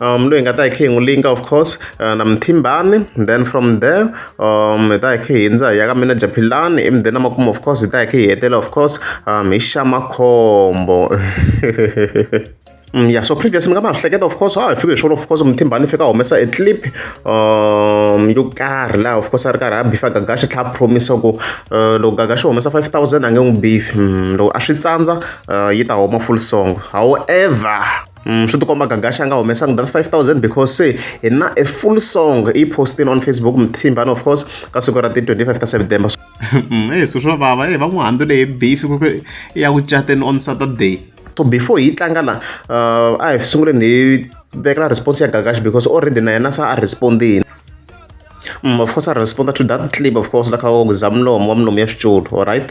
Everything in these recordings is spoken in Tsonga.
um loyi hi nga ta hi kha hi n'wi linka of course uh, na mthimbani then from there um hi ta hi kha hi hindza hi ya ka mina japhilani emudeni na makumu of course hi ta hi kha hi hetela of course um hi xamakhombo Mm, yeah so previous mi nga ma hleketa of course ha hi fike hi swona of course muthimbani fika humesa e clip um yo karhi laha of course a ri karhi a bifa gagaxa tlha a promisa ku uh, loko gagaxa humesa 5000 a nge n'wi bifi mm, loko a swi tsandza uh, yi ta huma full song however Mm, swi tikomba gagaxa a nga humesanga that 5000 because se hi na a full song yi postin on facebook mthimbani of course ka siku ra ti-25 ta september mm, e swi swo vava e va n'wi handu leyi beef ya ku cateni on saturday so before hi tlanga la uh, a hi sunguleni hi vekela response ya gagaxa because already na yena sa a respondini mm, of course a responda to that clip of course la kha ku za mulomo wa mulomo ya xitulu all right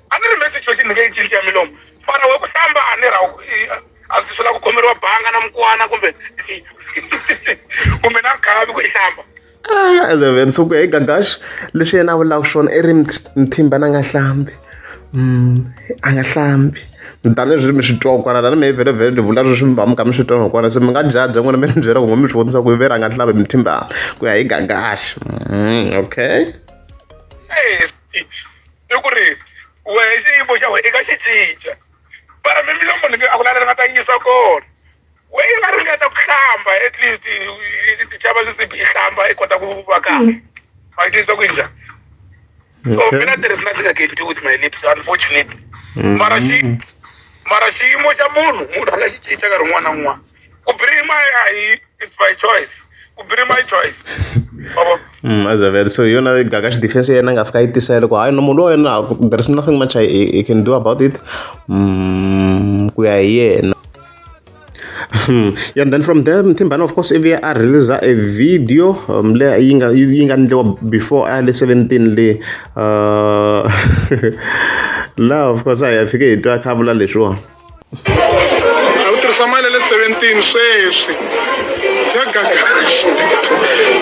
a ni ri me situation ni nge yi cinci ya milomu mara we ku hlamba a ni ra a swi swi la ku khomeriwa banga na mukwana kumbe kumbe na nkhavi ku yi hlamba ah, as a veni so ku ya hi gagash leswi yena a vulaka swona i ri mthimba na nga hlambi mm, a nga hlambi tanihileswi mi swi twa kwana lani mi hi vhele vhele ni vula leswi mi va mi kha mi swi twa kwana se mi nga jajha n'wina mi ni byela ku mi swi vonisa ku veri a nga hlavi mi thimbana ku ya hi gagaxi mm, okay i ku ri wehe xiyimo xa wena i nga xi cinca mara mi milomo ni a ku lalela nga ta yisa kona we yi nga ringeta ku hlamba at least xava swisibi i hlamba i kota ku va kahle a yi tisa ku yi njhani so mina there is nothing i can do with my lips unfortunately mm-hmm. mara xi mara xiyimo xa munhu munhu a nga xi cinca nkarhi wun'wana na wun'wana ku birima a hi it's by choice ku birima i choice Baba. Mm, as a vet so yona gagash defense yena nga fika yi tisa loko hayi no munhu loyi na there is nothing much I, I can do about it mm, ku ya hi yena Hmm. yeah then from there mthimbana of course ivi a release a video um, le yi nga yi nga ndliwa before a le 17 le uh, la of course a hi fike hi twa khavula leswiwa a wu tirhisa mali ya le 17 sweswi ya gagaxi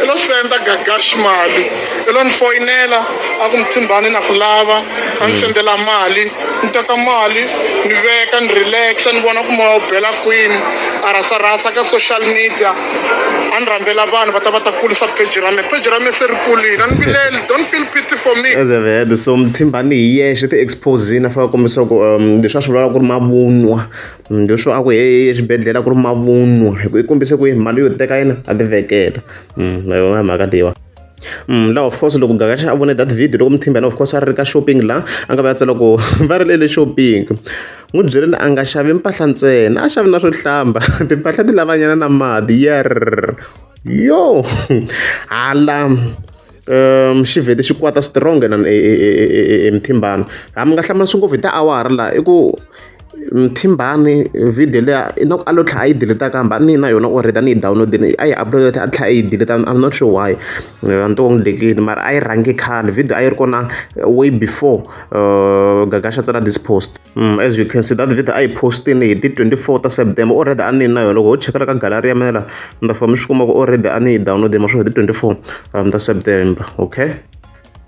i lo senda gagaxi mali i lo ni foyinela a ku muthimbani na ku lava a ni mm. sendela mali ni teka mali ni veka ni relaxa ni vona ku moya wu bela kwini a rasarasa ka social media a ni rhambela vanhu va ta va ta kulisa peji ra me peji ra me se ri kulile a ni vileli don't feel pity for me as i've heard so mthimbani hi yexe ti-exposini a faka kombisa ku um leswi a swi vulaka ku ri mavunwa mm, leswo a ku he exibedhlele ku ri mavunwa hi ku i kombise ku mali yo teka yena a tivekela mm, mhaka leyiwa la of course loko gagaxa a vone that video loko muthimbana of course a ri ka shopping la a nga va ya tsala ku va ri lele shopping n'wi byeleni a nga xavi mpahla ntsena a xavi na swo hlamba timpahla ti lavanyana na mati yer yo hala um xi vhete xi kwata strong na muthimbana ha mi nga hlamurisi ngopfu hi tiawara laha i ku Mthimbani video liya i loko a lo tlhela a yi delete-a kambe a ni na yona already a ni yi download-ini a yi upload-a a tlhela a yi delete-a I'm not sure why a ni twa onge mara a yi rhange khale video a yi ri kona way before Gagasha a tsala this post as you can see that video a yi post-ini hi ti twenty four ta September already a ni na yona loko ho cheka la ka gallery ya mina la mi ta fika mi swi kuma ku already a ni yi download-ini ma swi ri hi ti twenty four ta September okay.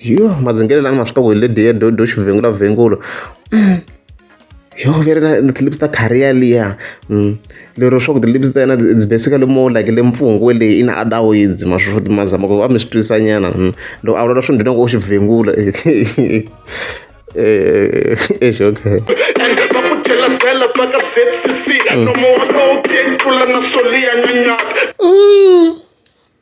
yo madzingelelo lani ma swi tongo hi lediya do do xivhengula vhengulo yo veri na ti-lips ta khariya liya mm. lero swa ku ti-lips ta yena it's basically more like le mpfungwe leyi i na other words ma swo ma zama ku a mi swi twisa nyana mm. loko a vulavula swi ndzi loko u xi vhengula eh, eh, eh, okay mm.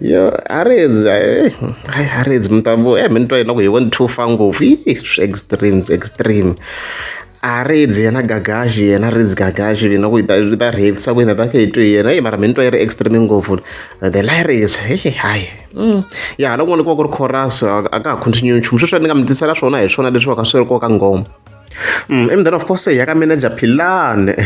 yo harezi hayi harezi mi ta vo e mi ni twa yena ku hi vo ni two fa ngopfu yi swi extremes extreme harezi yena gagaxi yena rezi gagaxi yena ku yi ta yi ta rhelisa ku yena ta khe hi twe yena yi mara mi ni twa yi ri extreme ngopfu the lyrics hehe hayi mm. ya hala kun'wana ku va ku ri chorus a ka ha continue nchumu sweswi ni nga mi tisela swona hi swona leswi va ka swi ri koka ngoma Mm, I mdana of course ya ka manager Philane.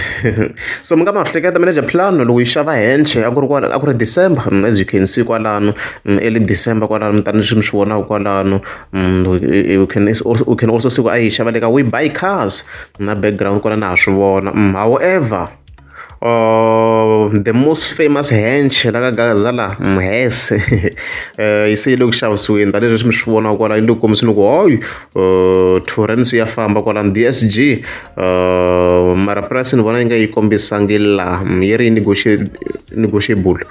so mi nga ma hleketa manager Philane loko yi xava henche a ku ri kwala a ku ri December mm, as you can see kwalano mm, early December kwalano tani swi mi swi vonaka kwalano you can also you can also see ku a yi xava le ka we buy cars na background kwala na ha swi vona however the most famous hench la ka gazala mhese yi se yi le ku xavisiweni tanihileswi swi mi swi vonaka kwala yi le ku kombiseni ku hoyi torrance ya famba kwalani d s g mara price ni vona yi nga yi kombisangi laha yi ri yi negotiable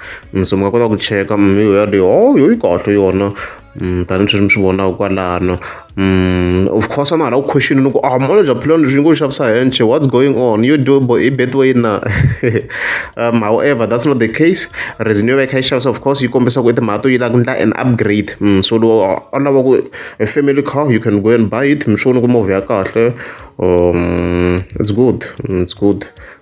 so mi nga kota ku cheka mi yoyaleyo hoyo yi kahle yona Mm, tanihi sweswi mi swi vonaka kwalano mm, of course a na hala ku question loko a ah, molo bya philani leswi ngo xavisa henche what's going on you do bo i betway na um however that's not the case reason yo va yi kha yi xavisa of course yi kombisa ku i timhaka to yi lava ku endla an upgrade mm, so loko a ah, lava ku a family car you can go and buy it mi swi vona ku movha ya kahle um it's good it's good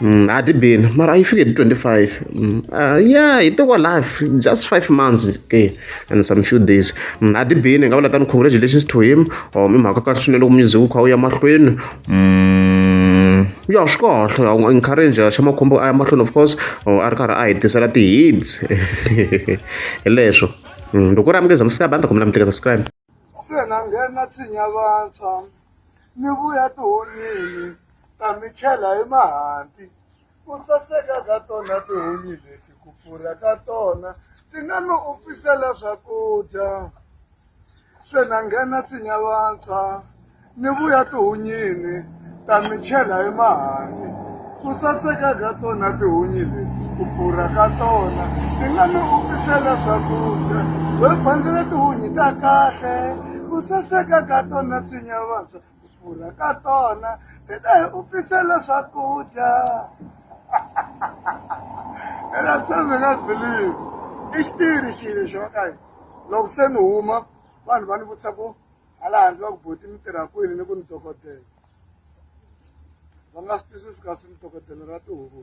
Mm, a ti bini mara yi fike hi 25 mm, uh, yeah hi teko life just five months okay and some few days mm, a ti bini nga vula tani congratulations to him or um, i mhaka kahle swinene loko music wu kha wu ya mahlweni mm, ya swi kahle u nga encourage xa makhombo a ya mahlweni of course or a ri karhi a hi tisela ti-hits hi leswo mm, loko u ri amukeza msabanda kumbe lamuteka subscribe Se na nghena tshinya vantshwa mi vuya tihonyini ta mi chela hi mahanti ku saseka ka tona tihunyi leti ku pfurha ka tona ti nga mi swakudya se na nghena tshinya vantshwa. Ni vuya tihunyini ta mi chela emahanti ku saseka ka tona tihunyi leti ku pfurha ka tona ti nga mi vukisela swakudya we bandzile tihunyi ta kahle ku saseka ka tona tsinya vantshwa ku pfurha ka tona ti ta hi upfisela swakudya ela tshembe na believe i xitiri xilo xo ka loko se ni huma vanhu va ni vutisa ku hala handle va ku boti mi tirha kwini ni ku ni dokodela va nga swi twisisi kasi ni dokodela ra tihuku